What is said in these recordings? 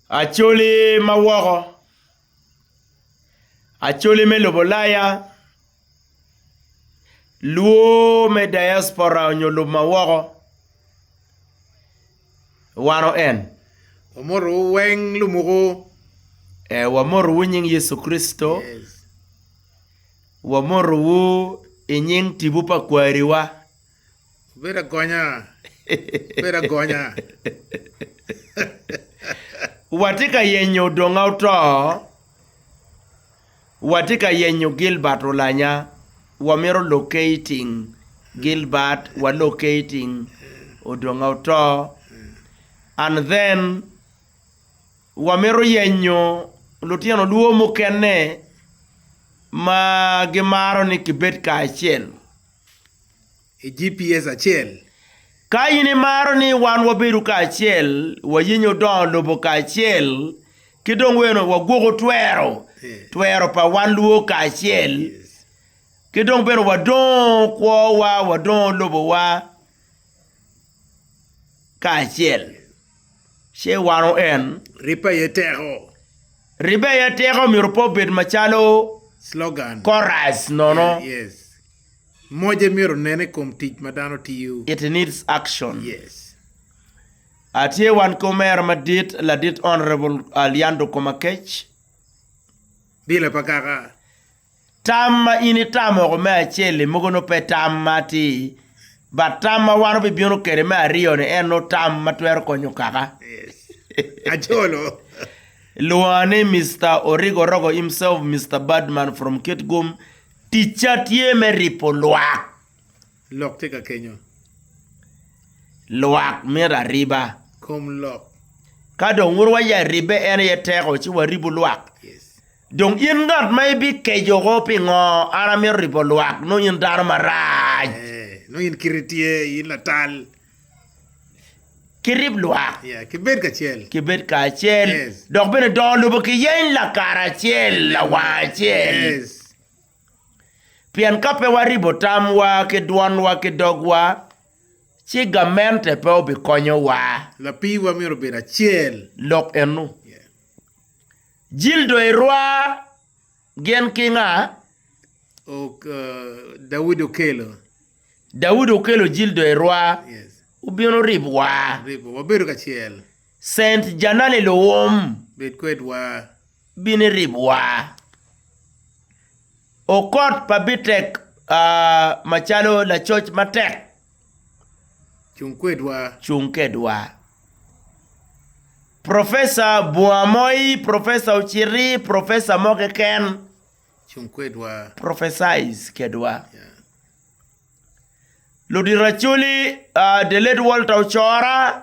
Acholi ma woko, acholi me lobo Ulaya, luo me diaspora nyo lub ma woko, wano en. Wamotowu weng lumuku. Ee, wamotowu i nying Yecu Kricito. Wamotowu i nying tipo pa kwariwa. Bedo agonya, bedo agonya. Watye ka yenyo Odonga Oto, watye ka yenyo Gilbert Olanya, wamito locating Gilbert, wa locating Odonga Oto, and then wamito yenyo lutino luo mukene ma gimaro ni kibed kacel. i GPS acel. Ka in imaro ni wan wabedo kacel, wayenyo dongo lobo kacel, ki dong weno wagwoko twero, twero pa wan lwor kacel, ki dong bene wadongo kwowa, wadongo lobowa. kacel ce wano en. Ribbe aye teko. Ribbe aye teko myero pe obed macalo slogan, chorus nono. Yeah, yes. Moje myero nene i kom tic ma dano tiyo. It needs action. Yes. Atye wan ki omera madit ladit Honourable Aliando Komakec. Bila pa kaka. Tam ma in itamo woko me acel-li mogo nongo pe tam ma atir, but tam ma wan wubibino kwede me aryo-ni en nongo tam ma twero konyo kaka. Acholo. Lwonga ni Mister Origo Orogo himself, Mister Badman from Kitgum, ticca tye me ripo lwak. Lok tye ka kenyo. Lwak mito ariba. Kom lok. Ka dong wun wa ya ribbe en aye teko ci waribu lwak. Yes. Dong in ngat ma ibikeco ko pingo an amito ribo lwak nongo in dano marac. Eh, nongo in kiti tye, in latal. Kirib lwak. Yeah, kibed kacel. Kibed kacel. Yes. Dok bene dongo lobo kiyeny lakaracel, lawang acel. Yes. Pien ka pe waribo tamwa ki dwanwa ki dogwa, ci gamente pe obikonyowa. Lapiiwa myero obed acel. Lok eno. Jildo irwa gin ki nga? Ok, Daudi okelo. Daudi okelo jildo irwa. Yes. Obino ribowa. Ribowa. Wabedo kacel. Saint Janale Luwum bed kwedwa. Bini ribwa. Okot pa Bitek aa macalo lacoc matek. Cung kwedwa. Cung kedwa. Professor bunga moi, Professor Ociti, Professor mo keken. Cung kwedwa. Prophesize kedwa. Yeah. Ludito Acholi, uh, the late Walter Ocora,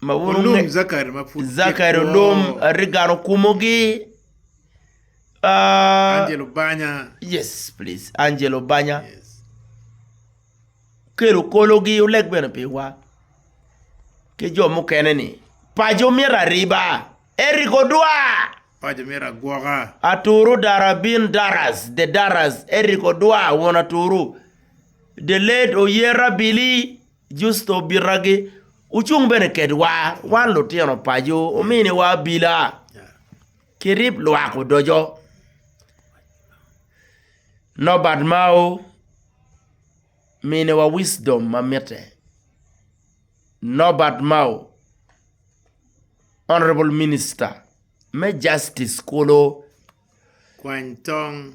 ma wun Zachary Olum, Reagan Okumogi, uh, Angelo Banya, yes please Angelo Banya kelo kologi oleg bene piwa ki jo mukene ni paco myero ariba Eric Odwa paco myero agwoka Aturu Darabin Daras the Daras Eric Odwa won Aturu the late Oyera Billy Justo obitagi, Wucung bene kedwa, wan lutino paco, wuminiwa abila, kirip lwak odoco. Nobert Mao, Miniwa wisdom ma mitte. Nobert Mao, Honourable Minister me Justice kulu. Kwany tong.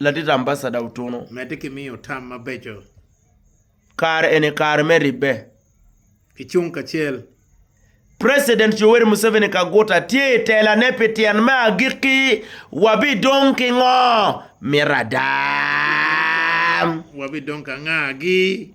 Ladit Ambasada Otuno. Medde ki miyo tam mabeco. Kare eni kare me ribbe. Kicung kacel. President Yoweri Museveni Kaguta tye i telane pi tyen me agikki, wabidong ki ngo? Mito adam. Wabidong ka ngagi?